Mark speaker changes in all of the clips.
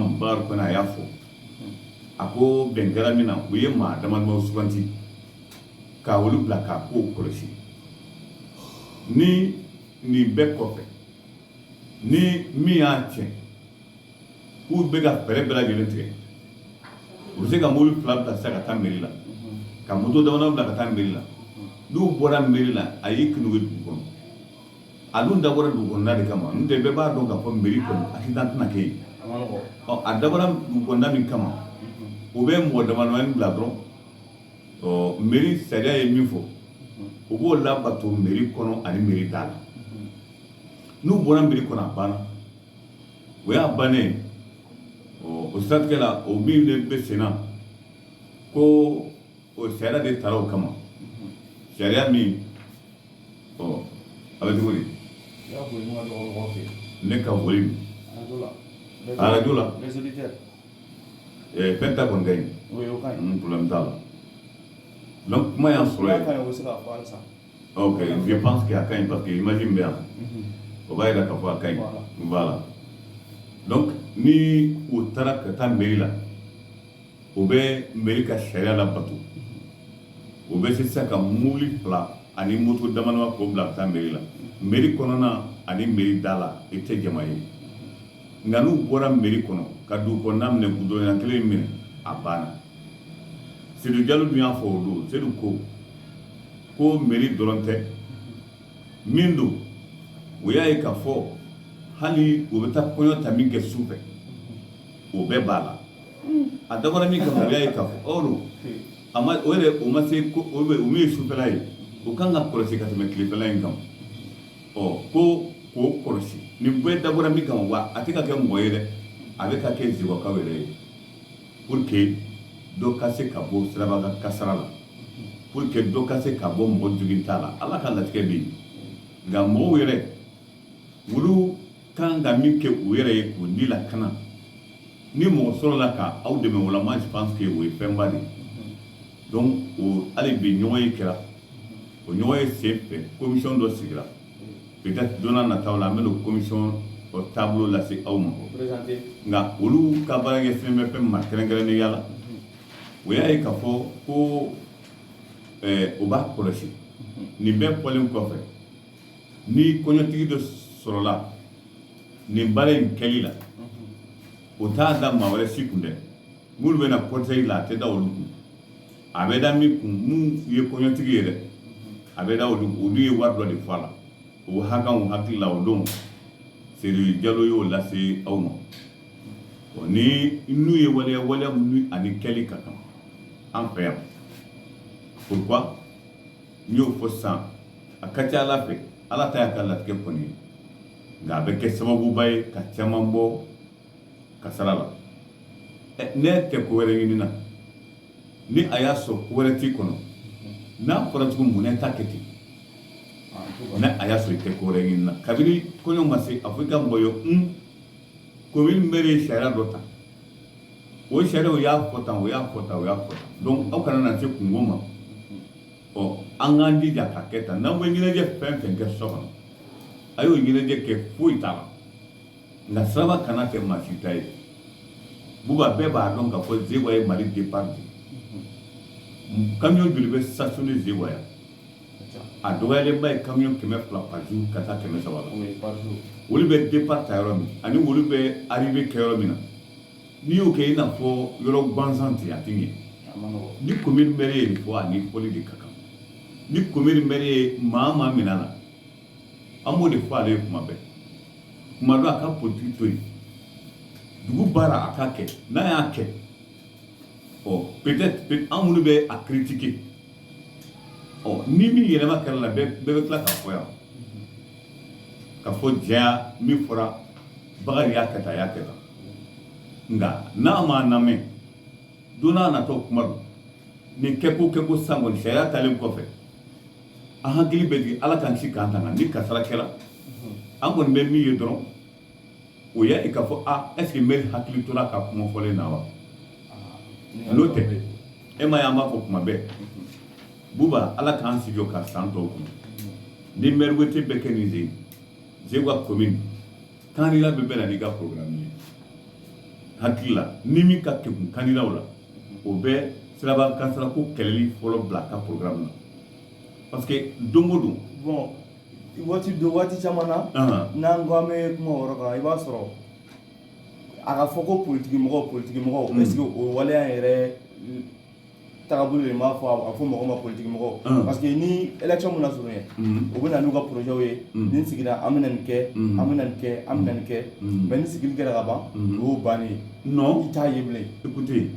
Speaker 1: kɔnɔ a y'a fɔ a ko bɛn kɛra min na u ye maa damadama suganti ka olu bila k'a kow kɔlɔsi ni nin bɛɛ kɔfɛ ni min y'a tiɲɛ k'u bɛ ka fɛɛrɛ bɛɛ lajɛlen tigɛ u bɛ se ka mobili fila bila sisan ka taa meri la ka moto damadama bila ka taa meri la n'u bɔra meri la a y'i kunnugu dugu kɔnɔ a dun dabɔra dugukɔnɔna de kama n'o tɛ bɛɛ b'a dɔn k'a fɔ meri kɔnɔ accident tɛna kɛ yen ɔ a dabɔra dugukɔnɔna min kama u bɛ mɔgɔ damadamanin bila dɔrɔn ɔ meri sariya ye min fɔ u b'o labato meri kɔnɔ ani meri da la n'u bɔra meri kɔnɔ a banna o y'a bannen ɔ o siratigɛ la o min de bɛ sen na ko o sariya de tara o kama sariya min ɔ a bɛ cogo di ne ka volume arajo la fɛn ta kɔni ka ɲi problème t'a la donc kuma y'an sɔrɔ yen ok je pense que a ka ɲi parce que image min bɛ yan o b'a yira k'a fɔ a ka ɲi voilà donc ni u taara ka taa mairie la u bɛ meri ka sariya labato u bɛ se sisan ka mobili fila ani moto damadama k'o bila ka taa meri la meri kɔnɔna ani meri da la i tɛ jama ye nka n'u bɔra meri kɔnɔ ka dugukɔnɔna minɛ gudɔrɔn kelen minɛ a banna seydu jalo dun y'a fɔ o don seydu ko ko meri dɔrɔn tɛ min don o y'a ye k'a fɔ hali u bɛ taa kɔɲɔ ta min kɛ su fɛ o bɛɛ b'a la a dabɔra min kama o y'a ye k'a fɔ ɔ don a ma o yɛrɛ o ma se ko o bɛ o min ye sufɛla ye o kan ka kɔlɔsi ka tɛmɛ tilefɛla in kan ɔ ko k'o kɔlɔsi nin bɛɛ dabɔra min kama wa a tɛ ka kɛ mɔgɔ ye dɛ a bɛ ka kɛ segukaw yɛrɛ ye pour que dɔ ka se ka bɔ siraba kan kasara la pour que dɔ ka se ka bɔ mɔgɔ joginta la ala ka latigɛ bɛ yen nka mɔgɔw yɛrɛ olu kan ka min kɛ u yɛrɛ ye k'u ni lakana ni mɔgɔ sɔrɔla ka aw dɛmɛ o la moi je pense que o ye fɛnba de ye donc o hali bi ɲɔgɔnye kɛra o ɲɔgɔnye sen fɛ commission dɔ sigira peut être don na nataw la an bɛn'o commission o taabolo lase aw ma nka olu ka baara ɲɛsinnen bɛ fɛn ma kɛrɛnkɛrɛnnenya la o y'a ye k'a fɔ ko u b'a kɔlɔsi nin bɛɛ fɔlen kɔfɛ ni kɔɲɔtigi dɔ sɔrɔla nin baara in kɛli la u t'a da maa wɛrɛ si kun dɛ minnu bɛ na cortège la a tɛ da olu kun a bɛ da min kun minnu ye kɔɲɔtigi ye dɛ a bɛ da olu olu ye wari dɔ de fɔ a la o hakɛ n hakili la o don Seydou Jalo y'o lase aw ma ɔ ni n'u ye waleya waleya minnu a ni kɛli ka kan an fɛ yan pourquoi n y'o fɔ sisan a ka ca ala fɛ ala ta y'a ka latigɛ kɔni ye nka a bɛ kɛ sababuba ye ka caman bɔ kasara la ne tɛ ko wɛrɛ ɲini na ni a y'a sɔrɔ ko wɛrɛ t'i kɔnɔ n'a fɔra cogo min ne t'a kɛ ten ne a y'a sɔrɔ i tɛ ko wɛrɛ ɲini na kabini kɔɲɔ ma se a fɔ i ka mɔgɔ ye un komin mɛri ye sariya dɔ ta o sariya o y'a fɔ tan o y'a fɔ tan o y'a fɔ tan donc aw kana na se kunko ma ɔ an k'an jija k'a kɛ tan n'aw bɛ ɲɛnajɛ fɛn fɛn kɛ so kɔnɔ a y'o ɲɛnajɛ kɛ foyi t'a la nka siraba kana kɛ maa si ta ye buba bɛɛ b'a dɔn k'a fɔ zewa ye mali départ de camion joli bɛ stationner zewa yan a dɔgɔyalenba ye camion kɛmɛ fila par jour ka taa kɛmɛ saba la olu bɛ départ ta yɔrɔ min ani olu bɛ arrivée kɛ yɔrɔ min na n'i y'o kɛ i n'a fɔ yɔrɔ gansan ten a tɛ ɲɛ ni komin mɛri ye nin fɔ a ni foli de ka kan ni komin mɛri ye maa maa minɛ a la an b'o de fɔ ale ye kuma bɛɛ kuma dɔ a ka politigi to yen dugu baara a k'a kɛ n'a y'a kɛ ɔ peut-être an minnu bɛ a critiquer ɔ ni min yɛlɛma kɛra a la bɛɛ bɛɛ bɛ tila k'a fɔ yan k'a fɔ jɛya min fɔra bakari y'a kɛ tan a y'a kɛ tan nka n'a m'a lamɛn don n'a natɔ kuma don nin kɛko kɛko san kɔni sariya talen kɔfɛ an hakili bɛ jigin ala k'an kisi k'an tanga ni kasara kɛra an kɔni bɛ min ye dɔrɔn o y'a ye k'a fɔ a est ce que mɛri hakili tora a ka kuma fɔlen na wa n'o tɛ e m'a ye an b'a fɔ kuma bɛɛ buba ala k'an sigi ka san tɔw kun ni mɛri wote bɛ kɛ nin ze zewa komin kandida bɛɛ bɛ na n'i ka programme ye hakili la ni min ka kekun kandidaw la o bɛ siraba kasara ko kɛlɛli fɔlɔ bila a ka programme na parce que don o don
Speaker 2: bon waati dɔ waati caman na n'an ko an bɛ kuma o yɔrɔ kan i b'a sɔrɔ a ka fɔ ko politigimɔgɔ politigimɔgɔ est ce que o waleya yɛrɛ tagabolo de m'a fɔ a fɔ mɔgɔ ma politiki mɔgɔ mm. parce que ni election mana surunya mm. u bɛ na n'u ka projets ye mm. ni sigira an bɛna nin kɛ an bɛna nin kɛ an bɛna nin kɛ mais ni sigili kɛra ka ban o y'o bannen ye non i t'a ye bilen
Speaker 1: écoutez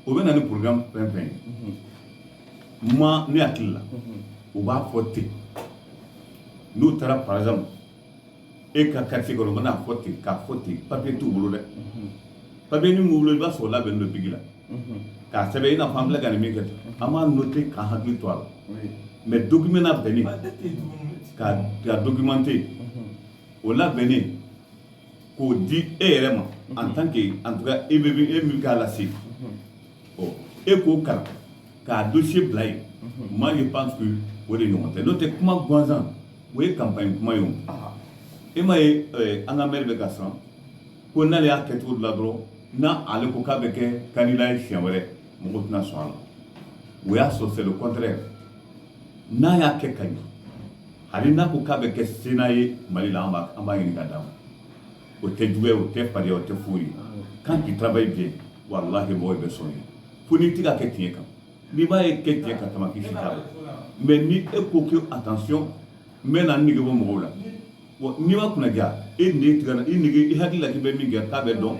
Speaker 1: o bɛ na ni programme fɛn fɛn ye mm-hmm. mais ne hakili la mm-hmm. u b'a fɔ ten n'u taara par exemple e ka quartier kɔnɔ u bɛna fɔ ten k'a fɔ ten papiye t'u bolo dɛ papiye min b'u bolo i b'a sɔrɔ o labɛnnen don bigi la k'a sɛbɛn i n'a fɔ an filɛ ka nin min kɛ an b'a noter k'an hakili to a la mais document labɛnnen k'a documenter o labɛnnen k'o di e yɛrɛ ma en tant que en tout cas e bɛ e min k'a lase ɔ e k'o kalan k'a dossier bila yen moi je pense que o de ɲɔgɔn tɛ n'o tɛ kuma gansan o ye campagne kuma ye o e ma ye an ka mɛri bɛ ka siran ko n'ale y'a kɛ cogo dɔ la dɔrɔn n'ale ko k'a bɛ kɛ candidat ye siɲɛ wɛrɛ mɔgɔ tɛna sɔn a la o y'a sɔrɔ c'est le contraire n'a y'a kɛ ka ɲɛ hali n'a ko k'a bɛ kɛ sénat ye mali la an b'a ɲini ka d'a ma o tɛ juguya o tɛ fariya o tɛ foyi ye quand tu travailles bien walahi mɔgɔ bɛ sɔn i ye fo n'i tɛ ka kɛ tiɲɛ kan n'i b'a ye kɛ tiɲɛ ka tɛmɛ k'i si t'a la mais ni e ko ko attention n bɛ na n nege bɔ mɔgɔw la bon n'i ma kunnadiya e nege tigɛ i nege i hakili la k'i bɛ min kɛ k'a bɛ dɔn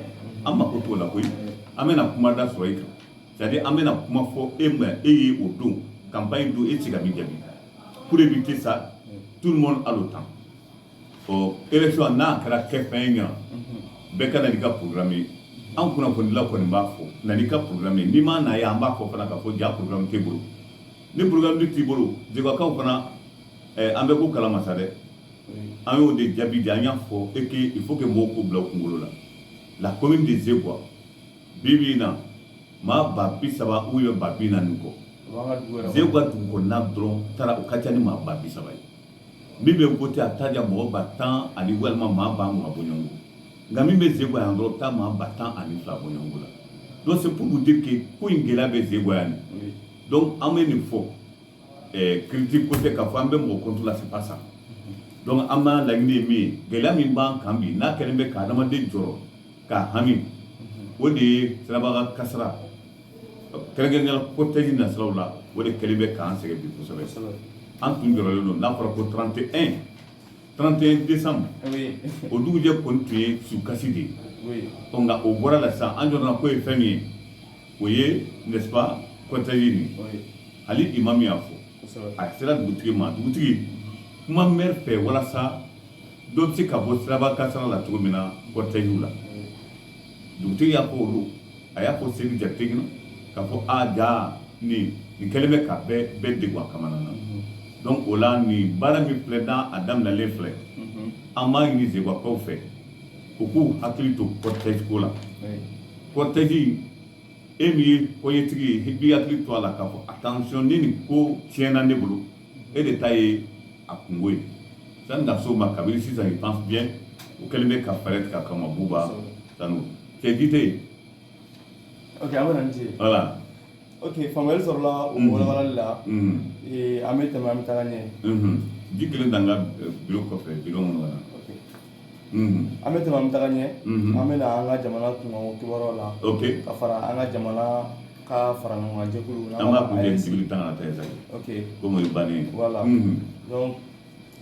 Speaker 1: an mako t'o la koyi an bɛna kuma da sɔrɔ i kan c'est à dire an bɛna kuma fɔ e ma e ye o don campagne don e tɛ se ka min jaabi pour éviter ça tout le monde a le temps ɔ élection n'a kɛra kɛfɛn ye ɲa bɛɛ ka na n'i ka programme ye an kunnafonidila kɔni b'a fɔ na n'i ka programme ye n'i ma na ye an b'a fɔ fana k'a fɔ ja programme t'i bolo ni programme dun t'i bolo zegwakaw fana eh, an bɛ ko kalama sa dɛ an y'o de jaabi di an y'a fɔ et que il faut que mɔgɔw k'o bila u kunkolo la la commune de Zegwa bi bi in na maa ba bi saba ou bien ba bi naani kɔ Zegwa dugu kɔnɔna dɔrɔn taara o ka ca ni maa ba bi saba ye min bɛ voter a bɛ taa ja mɔgɔ ba tan ani walima maa ba mugan bɔɲɔgɔnko nka min bɛ zegwa yan dɔrɔn o bɛ taa maa ba tan ani fila bɔɲɔgɔnko la donc c'est pour vous dire que ko in gɛlɛya bɛ zegwa yan donc an bɛ nin fɔ ɛɛ critique ko tɛ k'a fɔ an bɛ mɔgɔ contre la c'est pas ça donc an b'an laɲini ye min ye gɛlɛya min b'an kan bi n'a kɛlen bɛ ka adamaden jɔrɔ k'a hami o de ye siraba kan kasara kɛrɛnkɛrɛnnenya la cortège nasiraw la o de kɛlen bɛ k'an sɛgɛn bi kosɛbɛ an tun jɔrɔlen don n'a fɔra ko 31 31 décembre o dugujɛ kɔni tun ye sukasi de ye ɔ nka o bɔra la sisan an jɔrɔna ko ye fɛn min ye o ye n'est-ce pas cortège nin hali imam y'a fɔ a sera dugutigi ma dugutigi kuma mɛri fɛ walasa dɔ bɛ se ka bɔ siraba kasara la cogo min na cortègew la dugutigi y'a fɔ olu a y'a fɔ Sedi Jakite ɲɛna k'a fɔ a ja nin nin kɛlen bɛ ka bɛɛ bɛɛ degun a kamana na donc o la nin baara min filɛ n'a a daminɛlen filɛ an b'a ɲini zegwakaw fɛ u k'u hakili to cortège ko la cortège e min ye kɔɲɛtigi ye i b'i hakili to a la k'a fɔ attention ni nin ko tiɲɛna ne bolo e de ta ye a kunko ye sani ka s'o ma kabini sisan je pense bien u kɛlen bɛ ka fɛɛrɛ tigɛ a kama Buba Sanu c'est dit
Speaker 2: ok an bɛna ni ce voilà
Speaker 1: ok faamuyali
Speaker 2: sɔrɔla o walawalali la Mhm. Eh, an bɛ tɛmɛ an bɛ taga ɲɛ Mhm. ji kelen dan
Speaker 1: ka eh, biro kɔfɛ biro minnu kana Ok. Mhm.
Speaker 2: an bɛ tɛmɛ an bɛ taga ɲɛ Mhm. an bɛna an ka jamana kunkanko kibaruyaw la ok ka fara an ka jamana ka fara ɲɔgɔn kan jɛkulu n'an an b'a b'a kun fɔ kɛ AES. sibiri
Speaker 1: tan ka taa sa ok komi o ye
Speaker 2: bannen
Speaker 1: ye Voilà. Mhm.
Speaker 2: donc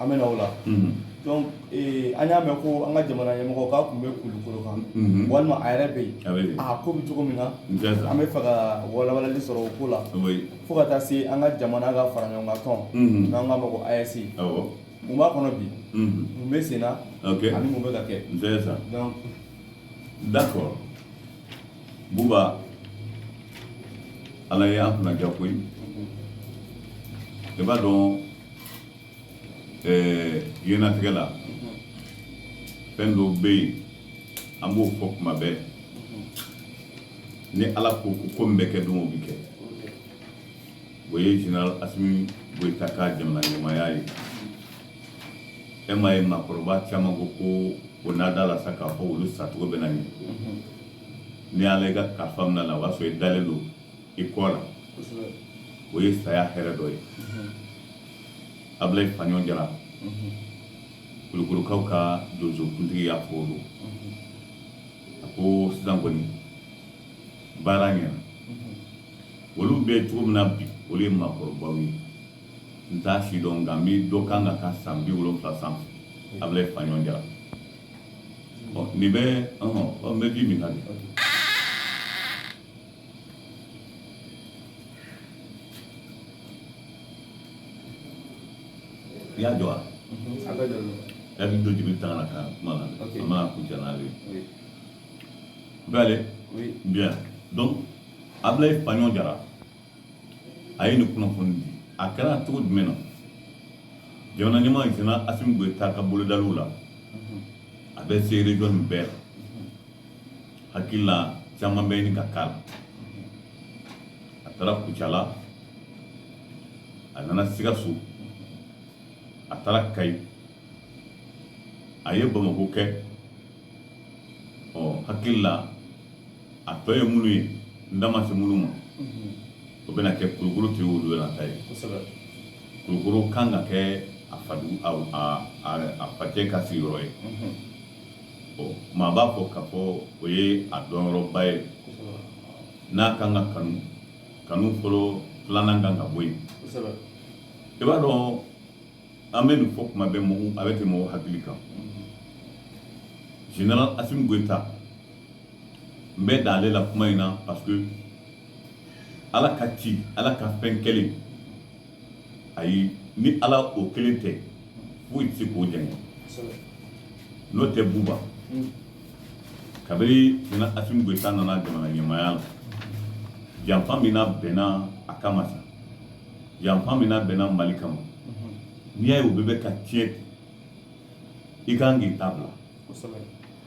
Speaker 2: an bɛ na o la Mhm. donc ee, an y'a mɛn ko an ka jamana ɲɛmɔgɔ k'a kun bɛ Kulukoro kan Mhm. walima a yɛrɛ bɛ yen a bɛ yen a ko bɛ cogo min na n tɛ sa an bɛ fɛ ka walawalali sɔrɔ o ko la o ye fo ka taa se an ka jamana ka fara ɲɔgɔn kan tɔn Mhm. n'an k'a ma ko AES awɔ mun b'a kɔnɔ bi Mhm. mun bɛ sen na ok ani mun bɛ ka kɛ n tɛ sa donc
Speaker 1: d'accord Buba ala ye an kunnaja koyi i b'a dɔn diɲɛlatigɛ la fɛn dɔw bɛ yen an b'o fɔ kuma bɛɛ ni ala ko ko ko min bɛ kɛ don o bɛ kɛ O ye Zenerali Asimi Goyita ka jamana ɲɛmaaya ye e ma ye maakɔrɔba caman ko ko o n'a da la sa k'a fɔ olu sacogo bɛ na ɲɛ ni y'ale ka ka faamuya na o b'a sɔrɔ i dalen don i kɔ la o ye saya hɛrɛ dɔ ye Abulayi Faɲɔn Jara Kulukorokaw ka donsokuntigi y'a fɔ don a ko sisan kɔni baara ɲɛna olu bɛ cogo min na bi olu ye maakɔrɔbaw ye n t'a si dɔn nka n bɛ dɔ kan ka taa san bi wolonwula sanfɛ Abulayi Faɲɔn Jara nin bɛ n bɛ ji min na de i y'a jɔ wa a bɛ don jigin tan ka kuma na a mana kun cɛ n'ale bɛɛ bi dɔn Abulayi Faɲɔn Jara a ye nin kunnafoni di a kɛra cogo jumɛn na jamana ɲɛmaa Zenerali Asimi Goyita ka bolodaliw la a bɛ se region nin bɛɛ la hakili la caman bɛ ɲini ka k'a la a taara Kucala a nana Sikaso a taara Kayi a ye Bamako kɛ ɔ hakili la a tɔ ye minnu ye n da ma se minnu ma o bɛna kɛ kulukoro tɛ olu yɛrɛ ta ye kulukoro kan ka kɛ a fadu a facɛ ka sigiyɔrɔ ye ɔ maa b'a fɔ k'a fɔ o ye a dɔnyɔrɔba ye n'a kan ka kanu kanu fɔlɔ filanan kan ka bɔ yen i b'a dɔn an bɛ nin fɔ kuma bɛ mɔgɔw a bɛ tɛmɛ mɔgɔw hakili kan général Asimi Goyita n bɛ dan ale la kuma in na parce que Ala ka ci Ala ka fɛn kɛlen ayi ni Ala o kelen tɛ foyi tɛ se k'o jɛngɛ n'o tɛ Buba kabiri général Asimi Goyita nana jamana ɲɛmaaya la janfa min labɛnna a kama sa janfa min labɛnna mali kama n'i y'a ye o bɛɛ bɛ ka tiɲɛ i ka kan k'i ta bila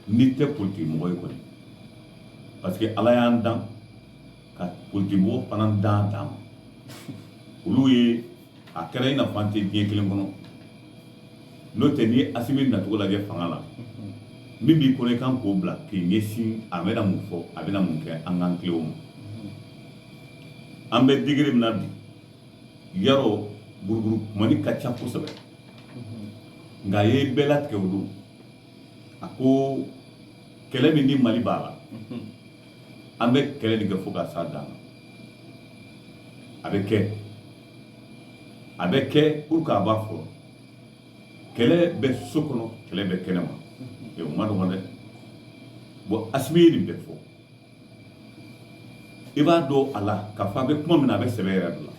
Speaker 1: n'i tɛ politiki mɔgɔ ye kɔni parce que ala y'an dan ka politiki mɔgɔ fana dan dan ma olu ye a kɛra i n'a fɔ an tɛ diɲɛ kelen kɔnɔ n'o tɛ ni asimi nacogo lajɛ fanga la min b'i kɔnɔ i kan k'o bila k'i ɲɛsin a bɛna mun fɔ a bɛna mun kɛ an k'an tilen o ma an bɛ degré min na bi yaro buruburu kumani ka ca kosɛbɛ nka a ye bɛɛ latigɛ o don a ko kɛlɛ min ni mali b'a la an bɛ kɛlɛ de kɛ fo ka s'a dan na a bɛ kɛ a bɛ kɛ pour que a b'a fɔ kɛlɛ bɛ so kɔnɔ kɛlɛ bɛ kɛnɛ ma o man nɔgɔn dɛ bon asimi ye nin bɛɛ fɔ i b'a dɔn a la k'a fɔ a bɛ kuma min na a bɛ sɛbɛ yɛrɛ de la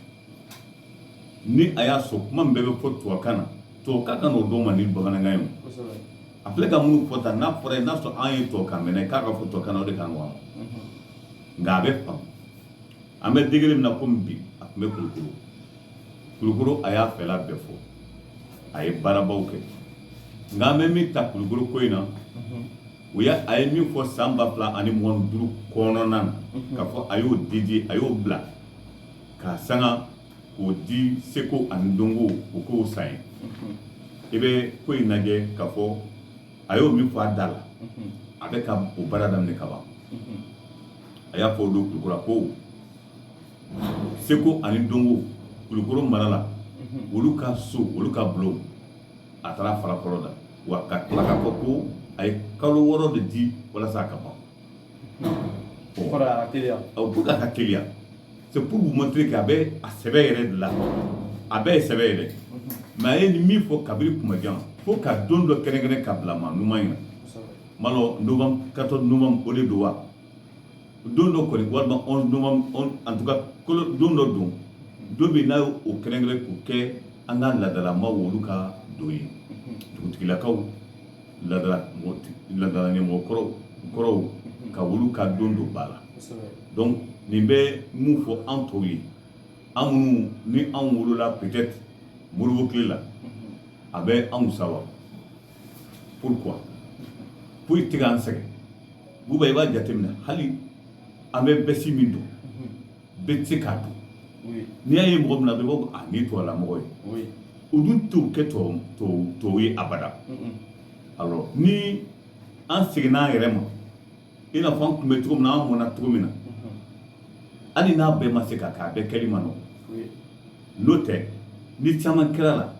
Speaker 1: ni a y'a sɔrɔ kuma min bɛɛ bɛ fɔ tubabukan na tubabukan kan n'o dɔn man di bamanankan ye a filɛ ka minnu fɔ tan n'a fɔra ye n'a sɔrɔ an ye tubabukan mɛn k'a ka fɔ tubabukan na o de ka nɔgɔn nka a bɛ faamu an bɛ degré min na komi bi a tun bɛ kulukoro kulukoro a y'a fɛla bɛɛ fɔ a ye baarabaw kɛ nka an bɛ min ta kulukoro ko in na u ye a ye min fɔ san ba fila ani mugan duuru kɔnɔna na mhm. k'a fɔ a y'o dédier a y'o bila k'a sanga k'o di seko ani dɔnko o kow san ye mhm. i bɛ ko in lajɛ k'a fɔ a y'o min fɔ a da la mhm. a bɛ ka o baara daminɛ ka ban a y'a fɔ o don kulukoro ko seko ani dɔnko kulukoro mara la olu ka so olu ka bulon a taara fara fɔlɔ da wa ka tila k'a fɔ ko a ye kalo wɔɔrɔ de di walasa a ka ban
Speaker 2: pour k'a
Speaker 1: ka teliya c'est pour vous montrer que a bɛ a sɛbɛ yɛrɛ de la a bɛɛ ye sɛbɛ yɛrɛ mais a ye nin min fɔ kabiri kuma jan fo ka don dɔ kɛrɛnkɛrɛn ka bila ma numan in na malɔ novembre 14 novembre o de don wa don dɔ kɔni walima en tout cas don dɔ don don min n'a y'o kɛrɛnkɛrɛn k'o kɛ an ka ladalamaw olu ka don ye dugutigilakaw ladala ɲɛmɔgɔ kɔrɔw ka olu ka don don ba la donc nin bɛ mun fɔ an tɔw ye an minnu ni an wolola peut-être Modibo tile la a bɛ anw sa wa pourquoi foyi tɛ k'an sɛgɛn Buba i b'a jateminɛ hali an bɛ bɛsi min don bɛɛ tɛ se k'a don n'i y'a ye mɔgɔ min na bɛɛ b'a fɔ a nin tubabula mɔgɔ ye o dun t'o kɛ tubabu ye abada alors ni an seginna an yɛrɛ ma i n'a fɔ an tun bɛ cogo min na an mɔna cogo min na hali n'a bɛɛ ma se ka kɛ a bɛɛ kɛli ma nɔgɔn n'o tɛ ni caman kɛra la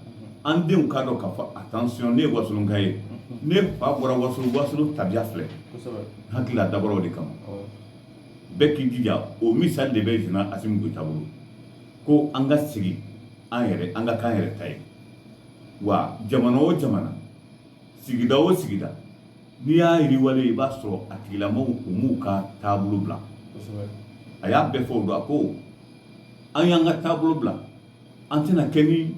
Speaker 1: an denw k'a dɔn k'a fɔ attention ne ye wasolonka ye ne fa bɔra wasolo wasolo tabiya filɛ hakilila dabɔra o de kama bɛɛ k'i jija o misali de bɛ Général Asimi Goyita bolo ko an ka segin an yɛrɛ an ka k'an yɛrɛ ta ye wa jamana o jamana sigida o sigida n'i y'a yiriwalen ye i b'a sɔrɔ a tigilamɔgɔw u m'u ka taabolo bila a y'a bɛɛ fɔ o don a ko an y'an ka taabolo bila an tɛna kɛ ni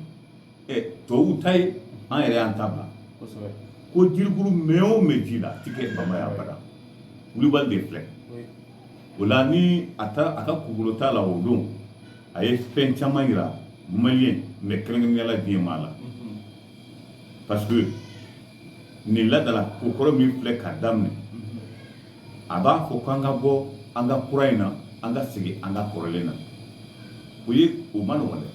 Speaker 1: tubabuw ta ye an yɛrɛ y'an ta bila ko jirikurun mɛn o mɛn ji la a ti kɛ bama ye abada Kulibali de filɛ o la ni a ka kugukolo t'a la o don a ye fɛn caman yira maliyɛn mais kɛrɛnkɛrɛnnenya la diɲɛ maa la parce que nin ladala kokɔrɔ min filɛ ka daminɛ a b'a fɔ k'an ka bɔ an ka kura in na an ka segin an ka kɔrɔlen na o ye o ma nɔgɔn dɛ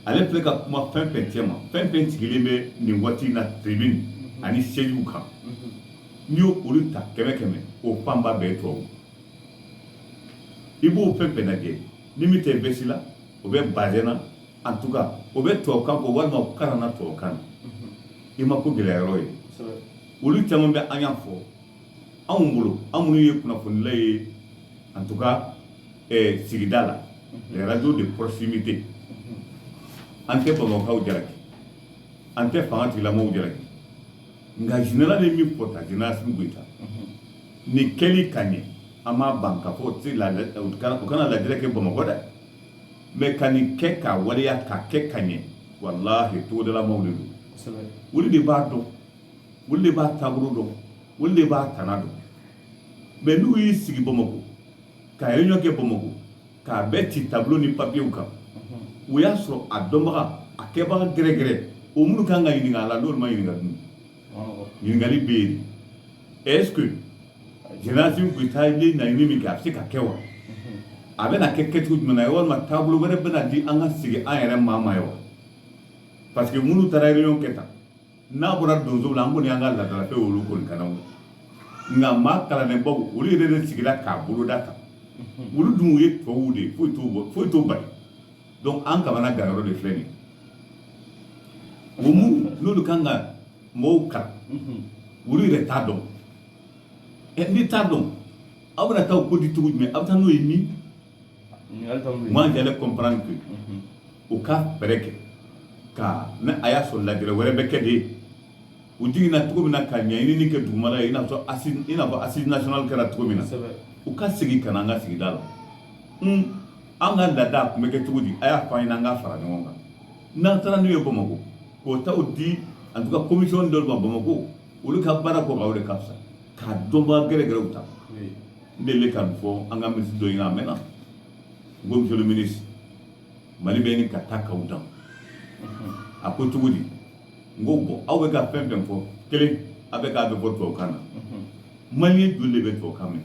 Speaker 1: ale filɛ ka kuma fɛn fɛn cɛ ma fɛn fɛn sigilen bɛ nin waati in na tribune ani sɛziw kan n'i y'olu ta kɛmɛ kɛmɛ o fanba bɛɛ ye tubabu i b'o fɛn fɛn lajɛ ni min tɛ vɛsi la o bɛ bazin na en tout cas o bɛ tubabukan kɔ walima kalanna tubabukan i ma ko gɛlɛya yɔrɔ ye olu caman bɛ an y'a fɔ anw bolo an minnu ye kunnafonila ye en tout cas sigida la les radios de proximité an tɛ bamakɔkaw jalaki an tɛ fanga tigilamaw jalaki nka Général d'armée Goyita Général Asimi Goyita nin kɛli ka ɲɛ an b'a ban k'a fɔ u kana lajɛɛrɛ kɛ bamakɔ dɛ mais ka nin kɛ k'a waleya k'a kɛ ka ɲɛ walahi togodalamaw de don olu de b'a dɔn olu de b'a taabolo dɔn olu de b'a tana dɔn mais n'u y'i sigi bamakɔ ka réunion kɛ bamakɔ k'a bɛɛ ci tableau ni papiyew kan o y'a sɔrɔ a dɔnbaga a kɛbaga gɛrɛgɛrɛ o minnu kan ka ɲininka a la n'olu ma ɲininka dun ɲininkali bɛ yen est ce que général Assimi Goïta ye laɲini min kɛ a bɛ se ka kɛ wa a bɛna kɛ kɛcogo jumɛn na walima taabolo wɛrɛ bɛna di an ka segin an yɛrɛ maa ma ye wa parce que minnu taara réunion kɛ tan n'a bɔra donsow la an kɔni y'an ka laadalafɛn olu kɔni kana o nka maa kalannenbaw olu yɛrɛ de sigira k'a boloda ta olu dun ye tubabuw de ye foyi t'o bɔ foyi t'o bali donc an kamanaganyɔrɔ de filɛ nin ye o minnu olu kan ka mɔgɔw kalan olu yɛrɛ t'a dɔn ɛ n'i t'a dɔn aw bɛna taa o ko di cogo jumɛn aw bɛ taa n'o ye min ɲininkali dɔ bɛ moi yen j'allais comprendre que u ka fɛɛrɛ kɛ ka ni a y'a sɔrɔ lajɛrɛ wɛrɛ bɛ kɛ de u jiginna cogo min na ka ɲɛɲinini kɛ dugumala ye i n'a fɔ assise i n'a fɔ assise nationale kɛra cogo min na kosɛbɛ u ka segin ka na an ka sigida la un an ka laada a tun bɛ kɛ cogo di a y'a fɔ an ɲɛna an k'a fara ɲɔgɔn kan n'an taara n'u ye bamakɔ k'o taw di en tout cas commission dɔ de ma Bamako olu ka baara kɔ ka o de ka fisa k'a dɔnbaa gɛrɛgɛrɛw ta n delila ka nin fɔ an ka minisiri dɔ ɲɛna a mɛnna n ko monsieur le ministre mali bɛ ɲini ka taa k'aw dan a ko cogo di n ko bon aw bɛ ka fɛn fɛn fɔ kelen a bɛ k'a bɛɛ fɔ tubabukan na maliyɛn joli de bɛ tubabukan mɛn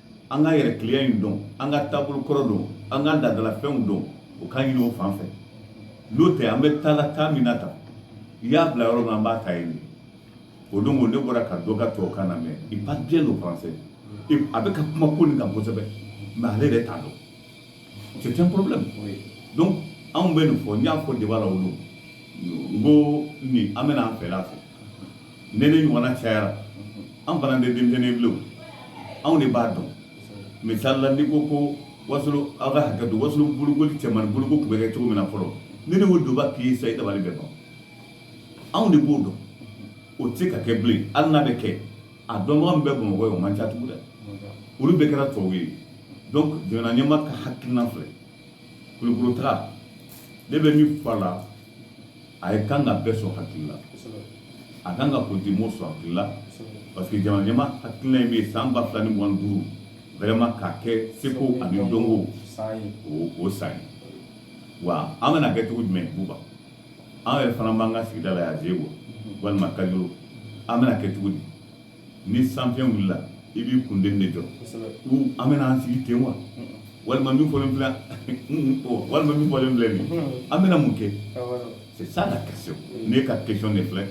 Speaker 1: an k'an yɛrɛ kiliya in dɔn an ka taabolo kɔrɔ dɔn an ka laadalafɛnw dɔn o k'an ɲini o fan fɛ n'o tɛ an bɛ taa la taa min na tan i y'a bila yɔrɔ min an b'a ta yen o don ko ne bɔra ka dɔ ka tubabukan lamɛn il parle bien le français a bɛ ka kuma ko nin kan kosɛbɛ mais ale yɛrɛ t'a dɔn c'est un problème donc anw bɛ nin fɔ n y'a fɔ débat la o don n ko nin an bɛna an fɛla fɔ ne ni ɲɔgɔnna cayara an fana tɛ denmisɛnnin bilen anw de b'a dɔn misali la n'i ko ko wasolo aw ka hakɛ to wasolo bolokoli cɛmani boloko tun bɛ kɛ cogo min na fɔlɔ ne ni o donba k'i sa i dabali bɛ ban anw de b'o dɔn o tɛ se ka kɛ bilen hali n'a bɛ kɛ a dɔnbaga min bɛ bamakɔ ye o man ca tugun dɛ olu bɛɛ kɛra tubabu ye donc jamana ɲɛmaa ka hakilina filɛ kulukoro taga ne bɛ min fɔ a la a ye kan ka bɛɛ sɔn hakili la a kan ka politique mɔgɔw sɔn hakili la parce que jamana ɲɛmaa hakilina in bɛ yen san ba fila ni mugan duuru vraiment k'a kɛ seko ani dɔnko o san ye wa an bɛna kɛ cogo jumɛn buba an yɛrɛ fana b'an ka sigida la yan zegua walima kajolo an bɛna kɛ cogo di ni sanfiɲɛ wulila i b'i kun de jɔ an bɛna an sigi ten wa walima min fɔlen filɛ walima min fɔlen filɛ nin an bɛna mun kɛ c'est ça la question ne ka question de filɛ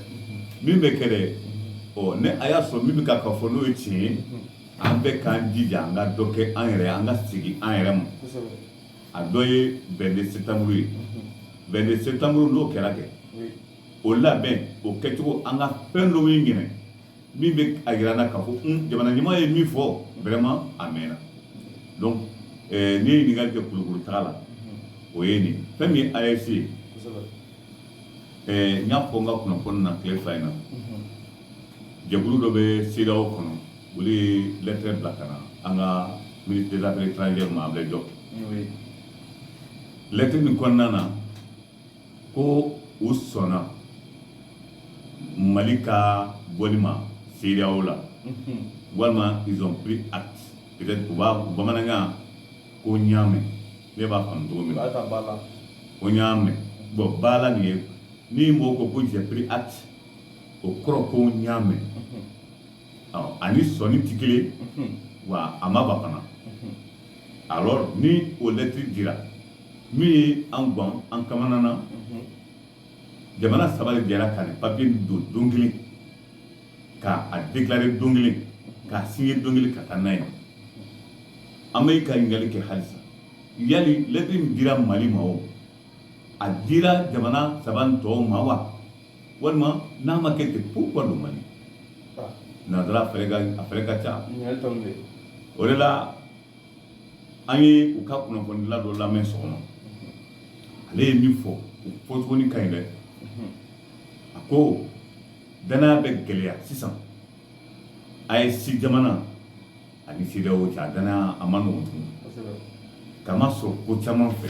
Speaker 1: min bɛ kɛ dɛ ɔ ne a y'a sɔrɔ min bɛ ka ka fɔ n'o ye tiɲɛ ye an bɛ k'an jija an ka dɔ kɛ an yɛrɛ an ka segin an yɛrɛ ma a dɔ ye 22 septembre ye 22 septembre n'o kɛra kɛ o labɛn o kɛcogo an ka fɛn dɔw ye ɲinan min bɛ a jira an na k'a fɔ jamana ɲɛmaa ye min fɔ vraiment a mɛnna n ye ɲininkali kɛ kulukuru taga la o ye nin fɛn min AES ye n y'a fɔ n ka kunnafoni na tile fila in na jɛkulu dɔ bɛ CEDEAO kɔnɔ olu ye lɛtɛrɛ bila ka na an ka ministre des affaires étrangères ma Ablaye Diop lɛtɛrɛ min kɔnɔna na ko u sɔnna mali ka bɔli ma CEDEAO la walima ils ont pris acte peut-être bamanankan ko n y'a mɛn ne b'a faamu cogo min ko n y'a mɛn bon baara nin ye ni mɔgɔ ko ko j'ai pris acte o kɔrɔ ko n y'a mɛn ani sɔnni tɛ kelen wa a ma ban fana alors ni o lɛtiri dira Min ye an gan an kamana na jamana saba de jɛra ka papier don don kelen ka a déclarer don kelen k'a signer don kelen ka taa n'a ye an bɛ ka ɲininkali kɛ halisa yali lɛtri min dira mali ma o a dira jamana saba nin tɔw ma wa walima n'a ma kɛ ten pourquoi don mali nansara a fɛɛrɛ ka ca o de la an ye u ka kunnafonidila dɔ lamɛn sɔgɔma ale ye min fɔ o fɔcogo nin ka ɲi dɛ a ko danaya bɛ gɛlɛya sisan AES jamana ani CEDEAO cɛ a danaya a man nɔgɔn tugun k'a masɔrɔ ko caman fɛ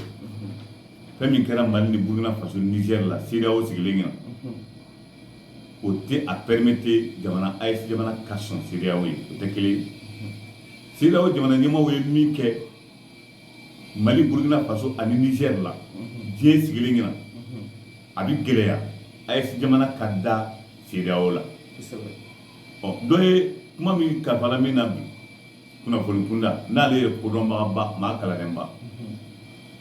Speaker 1: fɛn min kɛra Mali ni Burkina Faso ni Niger la CEDEAO sigilen ɲɛna o tɛ a permettre jamana AES jamana ka sɔn CEDEAO ye o tɛ kelen ye CEDEAO jamana ɲɛmaaw ye min kɛ mali burukina faso ani Niger la diɲɛ sigilen ɲɛna a bɛ gɛlɛya AES jamana ka da CEDEAO la ɔ dɔ ye kuma min kalifa min na bi kunnafoni kunda n'ale ye kodɔnbagaba maa kalannenba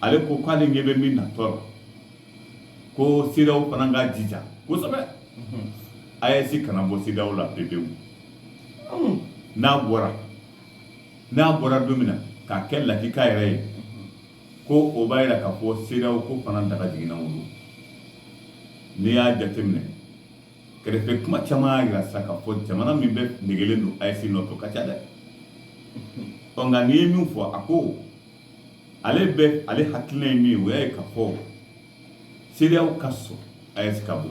Speaker 1: ale ko k'ale ɲɛ bɛ min natɔ la ko CEDEAO fana ka jija kosɛbɛ AES kana bɔ CEDEAO la pewu n'a bɔra n'a bɔra don min na k'a kɛ lakika yɛrɛ ye ko o b'a jira k'a fɔ CEDEAO ko fana daga jiginna o don n'i y'a jateminɛ kɛrɛfɛ kuma caman y'a jira sa ka fɔ jamana min bɛ negelen don AES nɔfɛ o ka ca dɛ ɔ nka n'i ye min fɔ a ko ale bɛ ale hakilina ye min o y'a ye ka fɔ CEDEAO ka sɔn AES ka bɔ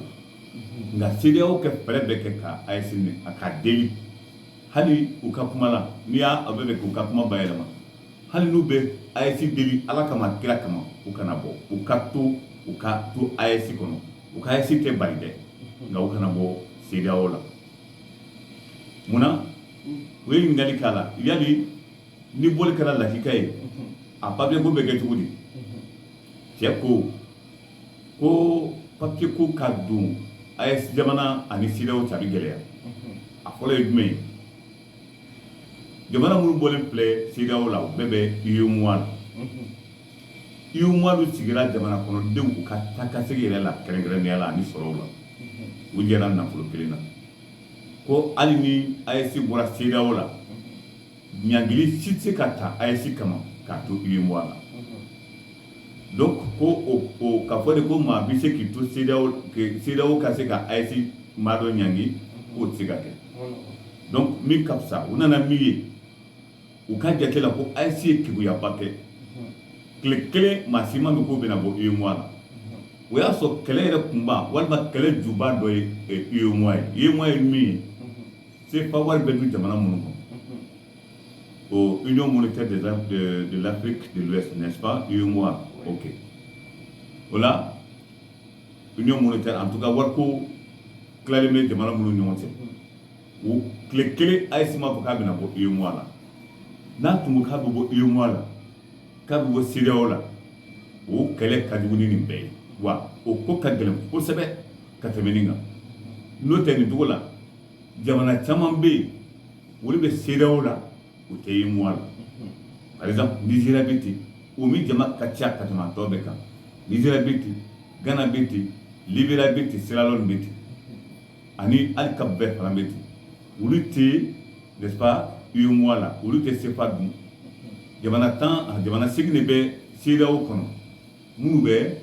Speaker 1: nka CEDEAO ka fɛɛrɛ bɛɛ kɛ ka AES minɛ a ka deli hali u ka kuma la n'i y'a a bɛ bɛ k'u ka kuma bayɛlɛma hali n'u bɛ AES deli ala kama kira kama u kana bɔ u ka to u ka to AES kɔnɔ u ka AES tɛ bali dɛ nka u kana bɔ CEDEAO la munna u ye ɲininkali k'a la yali ni bɔli kɛra lakika ye a papiye ko bɛ kɛ cogo di cɛ ko ko papiye ko ka don AES jamana ani CEDEAO cɛ a tɛ gɛlɛya a fɔlɔ ye jumɛn ye jamana minnu bɔlen filɛ CEDEAO la u bɛɛ bɛ UEMOA la UEMOA dun sigira jamana kɔnɔdenw u ka taakasegin yɛrɛ la kɛrɛnkɛrɛnnenya la ani sɔrɔw la u jɛra nafolo kelen na ko hali ni AES bɔra CEDEAO la ɲangili si tɛ se ka ta AES kama k'a to UEMOA la donc ko o ka fɔ de ko maa bɛ se k'i to CEDEAO ka se ka AES maa dɔ ɲangi k'o tɛ se ka kɛ donc min ka fisa u nana min ye u ka jate la ko AES ye keguyaba kɛ tile kelen maa si m'a mɛn k'o bɛna bɔ UEMOA la o y'a sɔrɔ kɛlɛ yɛrɛ kunba walima kɛlɛ juba dɔ ye UEMOA ye UEMOA ye min ye Sefa wari bɛ dun jamana minnu kɔnɔ o Union monétaire de l'Afrique de l'Ouest n'est-ce pas UEMOA ok voilà Union monétaire en tout cas wari ko tilali bɛ jamana minnu ɲɔgɔn cɛ o tile kelen AES ma fɔ k'a bɛna bɔ UEMOA la n'a tun k'a bɛ bɔ UEMOA la k'a bɛ bɔ CEDEAO la o kɛlɛ ka jugu ni nin bɛɛ ye wa o ko ka gɛlɛn kosɛbɛ ka tɛmɛ nin kan n'o tɛ nin cogo la jamana caman bɛ yen olu bɛ CEDEAO la u tɛ UEMOA la par exemple Nigéria bɛ ten o min jama ka ca ka tɛmɛ tɔw bɛɛ kan Nigéria bɛ ten Ghana bɛ ten Libéria bɛ ten Sierra Leone bɛ ten ani hali Cap Vert fana bɛ ten olu tɛ n'est-ce pas UEMOA la olu tɛ sefa dun jamana segin de bɛ CEDEAO kɔnɔ minnu bɛ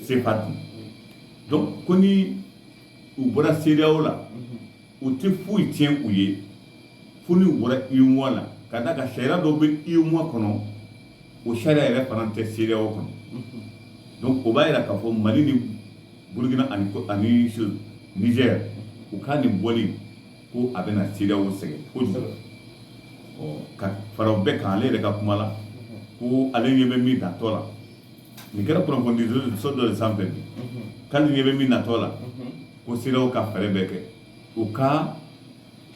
Speaker 1: sefa dun donc ni u bɔra CEDEAO la u tɛ foyi tiɲɛ u ye fo n'u bɔra UEMOA la ka d'a kan sariya dɔw bɛ UEMOA kɔnɔ o sariya yɛrɛ fana tɛ CEDEAO kɔnɔ donc o b'a jira k'a fɔ Mali ni Burkina ani ani Niger u ka nin bɔli ko a bɛna CEDEAO sɛgɛn kojugu ka fara o bɛɛ kan ale yɛrɛ ka kuma la ko ale ɲɛ bɛ min natɔ la nin kɛra kunnafoni di so dɔ de sanfɛ bi k'ale ɲɛ bɛ min natɔ la ko CEDEAO ka fɛɛrɛ bɛɛ kɛ u ka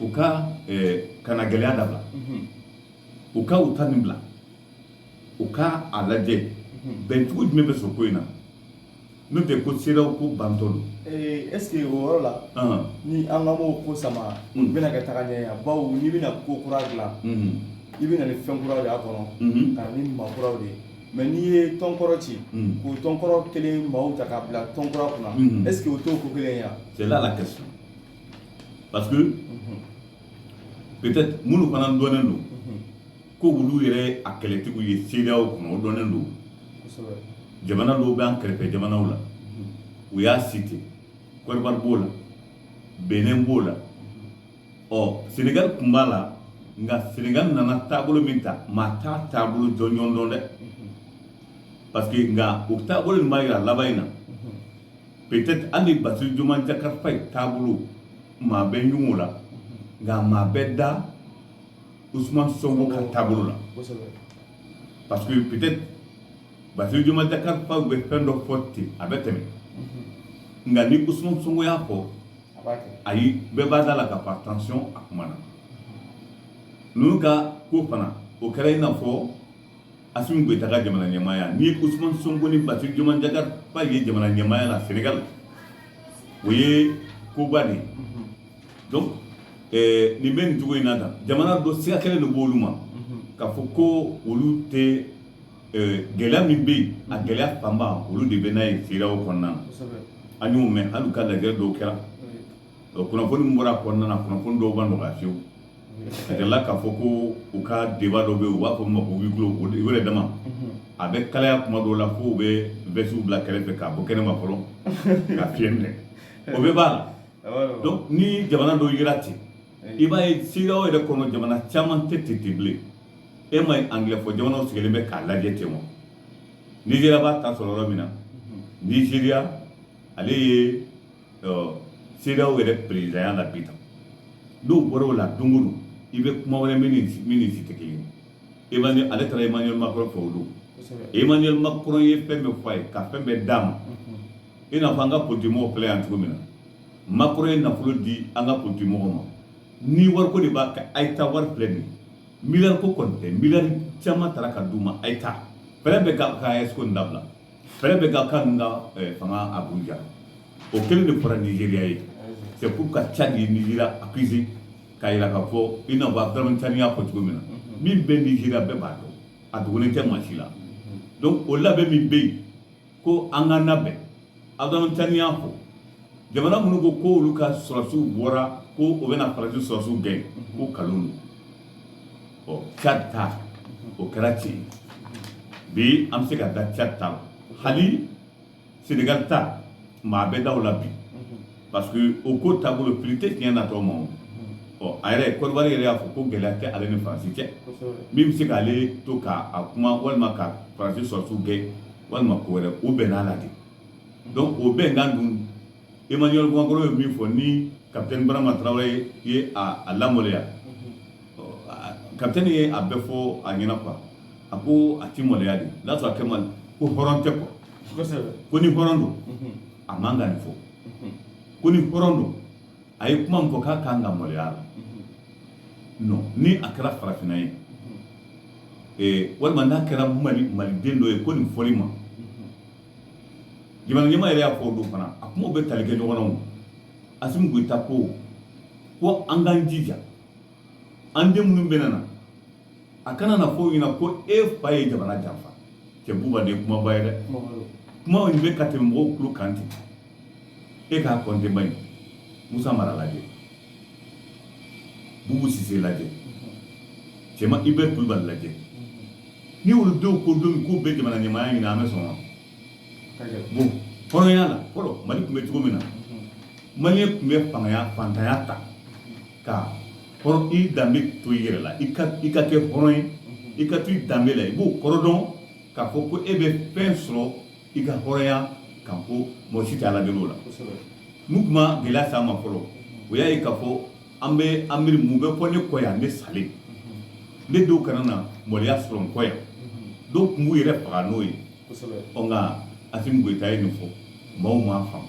Speaker 1: u ka kana gɛlɛya dabila u ka u ta nin bila u ka a lajɛ bɛncogo jumɛn bɛ sɔrɔ ko in na n'o tɛ ko CEDEAO ko bantɔ don est-ce que
Speaker 2: o yɔrɔ la ni an ka maaw ko sama u bɛna kɛ taga ɲɛ yan bawo n'i bɛna ko kura dilan i bɛ na ni fɛn kuraw de y'a kɔnɔ ka na ni maa kuraw de ye mais n'i ye tɔnkɔrɔ ci k'o tɔnkɔrɔ kelen maaw ta k'a bila tɔnkura kunna est-ce que o t'o ko kelen yan c'est là la
Speaker 1: question parce que peut-être minnu fana dɔnnen don ko olu yɛrɛ a kɛlɛtigiw ye CEDEAO kɔnɔ o dɔnnen don jamana dɔw bɛ an kɛrɛfɛ jamanaw la u y'a cité Côte d'Ivoire b'o la Benin b'o la ɔ senegali tun b'a la nka senegali nana taabolo min ta maa t'a taabolo jɔnjɔn dɔn dɛ parce que nka o taabolo nin b'a yira laban in na peut-être hali Bassirou Diomaye Diakhar Faye taabolo maa bɛ ɲugun o la nka maa bɛ da Ousmane Sonko ka taabolo la kosɛbɛ parce que peut-être Bassirou Diomaye Diakhar Faye bɛ fɛn dɔ fɔ ten a bɛ tɛmɛ nka ni Ousmane Sonko y'a fɔ ayi bɛɛ b'a da la k'a fɔ attention a kuma na ninnu ka ko fana o kɛra i n'a fɔ Assimi Goïta ka jamana ɲɛmaaya ni Ousmane Sonko ni Bassirou Diomaye Diakhar Faye jamana ɲɛmaaya la senegal o ye koba de ye donc eh, nin bɛ nin cogo in na tan jamana dɔw siga kɛlen de b'olu ma k'a fɔ ko olu tɛ gɛlɛya min bɛ yen a gɛlɛya fanba olu de bɛ n'a ye CEDEAO kɔnɔna an y'o mɛn hali u ka lajɛ dɔw kɛra kunnafoni min bɔra kɔnɔna na kunnafoni dɔw ma nɔgɔya fiyewu a kɛra k'a fɔ ko u ka débat dɔ bɛ yen u b'a fɔ a ma ko huis clos o yɛrɛ dama a bɛ kalaya kuma dɔw la fo u bɛ vɛsiw bila kɛrɛfɛ ka bɔ kɛnɛma fɔlɔ ka fiɲɛ minɛ o bɛɛ b'a la donc ni jamana dɔw jira ten i b'a ye cedeao yɛrɛ kɔnɔ jamana caman tɛ ten ten bilen e ma ye angilɛ fɔ jamanaw sigilen bɛ k'a lajɛ ten wa nizeriya b'a ta sɔrɔ yɔrɔ min na nizeriya ale ye cedeao yɛrɛ perezidanya la bi tan n'o bɔra o la don o don i bɛ kuma wɛrɛ mɛn nin si tɛ kelen ye emmanuel ale taara emmanuel macron fɛ o don emmanuel macron ye fɛn bɛɛ fɔ a ye ka fɛn bɛɛ d'a ma i n'a fɔ an ka politigimɔgɔw filɛ yan cogo min na macron ye nafolo di an ka politigimɔgɔw ma ni wariko de b'a kɛ a ye taa wari filɛ nin miliyari ko kɔni tɛ miliyari caman taara ka d'u ma a ye taa fɛɛrɛ bɛɛ kɛ ka aes ko in dabila fɛɛrɛ bɛɛ kɛ ka ninnu ka eh, fanga abuja o kelen de fɔra nizeriya ye c'est pourquoi tchad ye nizeriya accusé k'a yira k'a fɔ i n'a fɔ abdramani tiani y'a fɔ cogo min na min bɛ nizeriya bɛɛ b'a dɔn a dogolen tɛ maa si la donc o labɛn min bɛ yen ko an ka labɛn abdramani tiani y'a fɔ jamana minnu ko ko olu ka sɔrɔsiw bɔra ko u bɛna faransi sɔrɔsiw gɛn ko kalon don tchad ta o kɛra tiɲɛ bi an bɛ se ka da tchad ta la hali senegali ta maa bɛ da o la bi parce que o ko taabolo fili tɛ tiɲɛ natɔ ma o ɔ a yɛrɛ kɔdiwari yɛrɛ y'a fɔ ko gɛlɛya tɛ ale ni faransi cɛ min bɛ se k'ale to k'a a kuma walima ka faransi sɔrɔsiw gɛn walima ko wɛrɛ o bɛn'a la de donc o bɛnkan dun emmanuel macron ye min fɔ ni kapitɛni barama tarawele ye a a lamaloya ɔ, a- kapitɛni ye a bɛɛ fɔ a ɲɛna quoi a ko a tɛ maloya de n'a sɔrɔ a kɛ man ko hɔrɔn tɛ quoi kosɛbɛ ko ni hɔrɔn don a man ka nin fɔ ko ni hɔrɔn don a ye kuma min fɔ k'a kan ka maloya la non ni a kɛra farafinna ye ee walima n'a kɛra maliden dɔ ye ko nin fɔli ma jamana ɲɛmaa yɛrɛ y'a fɔ o don fana a kumaw bɛ tali kɛ ɲɔgɔn na o asimi goyita ko ko an k'an jija an den minnu bɛ na na a kana na fɔ ɲɛna ko e fa ye jamana janfa cɛ buba nin ye kumaba ye dɛ kuma in bɛ ka tɛmɛ mɔgɔw tulo kan ten e k'a kɔnte ba ye musa mara lajɛ bubu sise lajɛ cɛma ibɛri kulubali lajɛ ni olu denw ko don min k'u bɛ jamana ɲɛmaaya ɲini an bɛ sɔn wa bon hɔrɔnya la fɔlɔ mali tun bɛ cogo min na maliyɛn tun bɛ fantanya ta ka hɔrɔn i danbe to i yɛrɛ la i ka i ka kɛ hɔrɔn ye i ka to i danbe la i b'o kɔrɔ dɔn k'a fɔ ko e bɛ fɛn sɔrɔ i ka hɔrɔnya kan ko mɔgɔ si tɛ ala deli o la n'u kuma gɛlɛya s'a ma fɔlɔ o y'a ye k'a fɔ an bɛ an miiri mun bɛ fɔ ne kɔ yan ne salen ne denw kana na maloya sɔrɔ n kɔ yan dɔw tun b'u yɛrɛ faga n'o ye ɔ nka asimi goyita ye nin fɔ maaw m'a faamu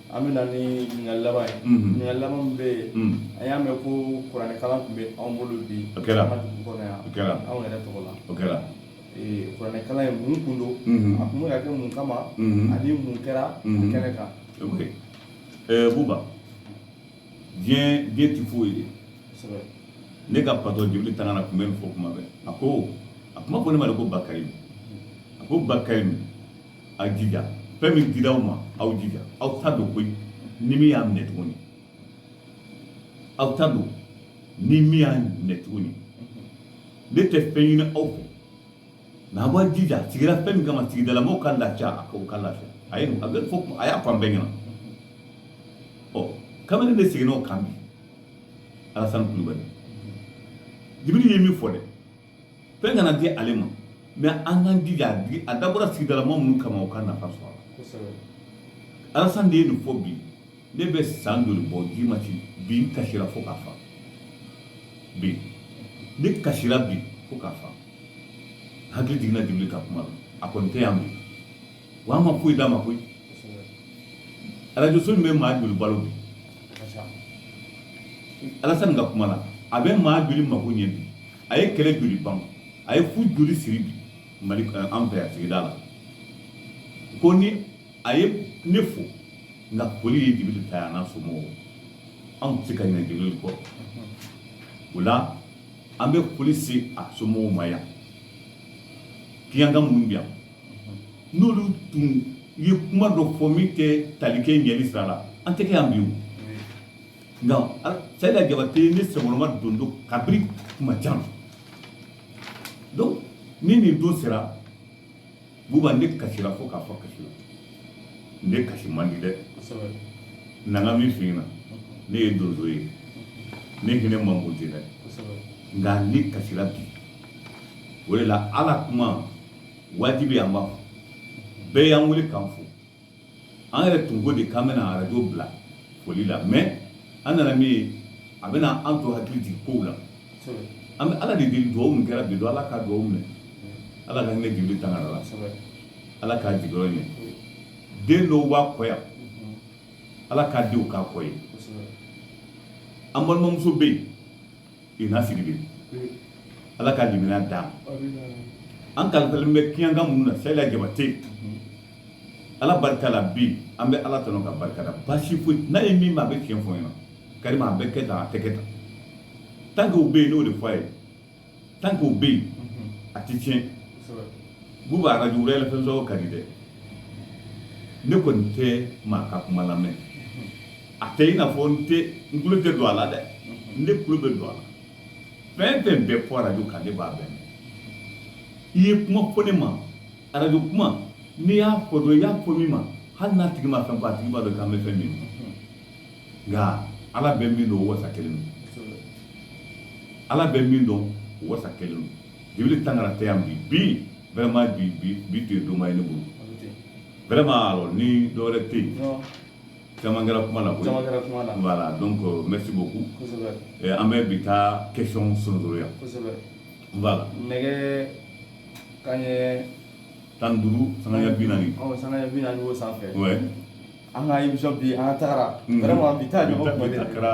Speaker 2: An bɛ na ni ɲininkali laban ye, unhun, ɲininkali laban min bɛ yen, un, an y'a mɛn ko kuranɛ kalan tun bɛ anw bolo bi, o kɛra, an ka dugu kɔnɔ yan, o kɛra, anw yɛrɛ tɔgɔ la, o kɛra, ee kuranɛ kalan in mun tun don, unhun, a tun bɛ ka kɛ mun kama, unhun, ani mun kɛra kɛnɛ kan, ok,
Speaker 1: ɛɛ Buba, diɲɛ diɲɛ tɛ foyi ye, kosɛbɛ, ne ka patɔrɔn Jibiri Tangara tun bɛ nin fɔ tuma bɛɛ, a ko, a tun b'a fɔ ne ma de ko Bakarimu, a ko Bakarimu a jija fɛn min dira aw ma aw jija aw ta don koyi ni min y'a minɛ tuguni aw ta don ni min y'a minɛ tuguni ne tɛ fɛn ɲini aw fɛ nka a b'a jija a sigira fɛn min kama sigidala maaw ka lafiya a k'o ka lafiya a ye a bɛ fɔ a y'a fɔ an bɛɛ ɲɛna ɔ kabini ne seginna o kan bi alasani kulubali jibiri ye min fɔ dɛ fɛn kana di ale ma mɛ an k'an jija a digi- a dabɔra sigidala maa minnu kama u ka nafa sɔrɔ a la kosɛbɛ alasan de ye nin fɔ bi ne bɛ san joli bɔ ji ma ci bi n kasira fo ka fa bi ne kasira bi fo ka fa n hakili jiginna jibiri ka kuma la a kɔni tɛ yan bi Wa an ma foyi d'a ma koyi arajoso nin bɛ maa joli balo bi alasan ka kuma la a bɛ maa joli mako ɲɛ bi a ye kɛlɛ joli ban a ye furu joli siri bi mali an fɛ yan sigida la ko ni a ye ne fo nka foli ye jibiri ta ye an'a somɔgɔw anw tɛ se ka ɲinɛ jibiri kɔ o la an bɛ foli se a somɔgɔw ma yan kiyanka minnu bɛ yan n'olu tun ye kuma dɔ fɔ min tɛ tali kɛ ɲɛli sira la an tɛ kɛ yan bi o nka sayida jabate ne sɛmɔlɔma don don kabiri kuma jan donc ni nin don sera buba ne kasira fo ka fa kasi la ne kasi man di dɛ n'an ka min f'i ɲɛna ne ye donso ye ne hinɛ man bon ten dɛ nka ne kasira bi o de la ala kuma wajibi an b'a fɔ bɛɛ y'an wele k'an fo an yɛrɛ tun ko de k'an bɛna arajo bila foli la mɛ an nana min ye a bɛna an to hakili jigin kow la an bɛ ala de deli dugawu min kɛra bi don ala ka dugawu minɛ ala ka hinɛ jibiri tangara la ala k'a jigiyɔrɔ ɲɛ den dɔw b'a kɔ yan ala k'a denw k'a kɔ ye an balimamuso bɛ yen ina sidibe ala ka limaniya d'a ma an kalifalen bɛ kiyankan minnu na sayila jabate ala barika la bi an bɛ ala tanu k'a barika da baasi foyi n'a ye min ma a bɛ tiɲɛ fɔ ɲɛna karima a bɛ kɛ tan a tɛ kɛ tan tant que o bɛ yen n'o de fɔ a ye tant que o bɛ yen a tɛ tiɲɛ buba arajo wɛrɛ fɛn sɔrɔ ka di dɛ ne kɔni tɛ maa ka kuma lamɛn a tɛ i n'a fɔ n tɛ n tulo tɛ don a la dɛ n de tulo bɛ don a la fɛn fɛn bɛ fɔ arajo kan ne b'a bɛɛ mɛn i ye kuma fɔ ne ma arajo kuma n'i y'a fɔ dɔrɔn i y'a fɔ min ma hali n'a tigi ma fɛn fɔ a tigi b'a dɔn k'an bɛ fɛn min nka ala bɛ min dɔn o wasa kɛlen don ala bɛ min dɔn o wasa kɛlen don jibiri tangara tɛ yan bi bi vraiment bi bi bi tun ye donba ye ne bolo vraiment alors ni dɔwɛrɛ tɛ yen
Speaker 2: caman
Speaker 1: kɛra kuma la koyi caman kɛra kuma la voilà donc euh, merci beaucoup kosɛbɛ eh, an bɛ bi ta question sonotoro yan kosɛbɛ voilà nɛgɛ
Speaker 2: kaɲɛ tan
Speaker 1: ni duuru sanga ɲɛ bi naani ɔ sanga ɲɛ bi naani
Speaker 2: b'o sanfɛ
Speaker 1: ouais an ka émission
Speaker 2: bi an ka tagara vraiment bi ta ɲɔgɔn kuma de kɛra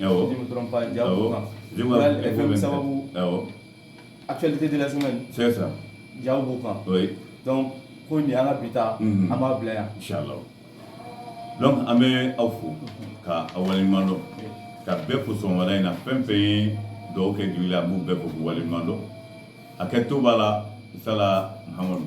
Speaker 2: Awɔ. Si je me trompe pas, Diao Awɔ. Bokan. Je m'en Real rappelle FM même. sababu, Awɔ. actualité de la semaine, C'est
Speaker 1: ça. Diao Bokan.
Speaker 2: Oui. Donc,
Speaker 1: ko
Speaker 2: nin y'an ka bi ta, Mhm. an b'a bila yan. Inch'Allah.
Speaker 1: Donc an bɛ aw fo ka aw waleɲuman dɔn ka bɛɛ fo sɔgɔmada in na fɛn fɛn ye dɔ kɛ jigi la an b'u bɛɛ fo k'u waleɲuman dɔn a kɛ to b'a la sala Muhamadu.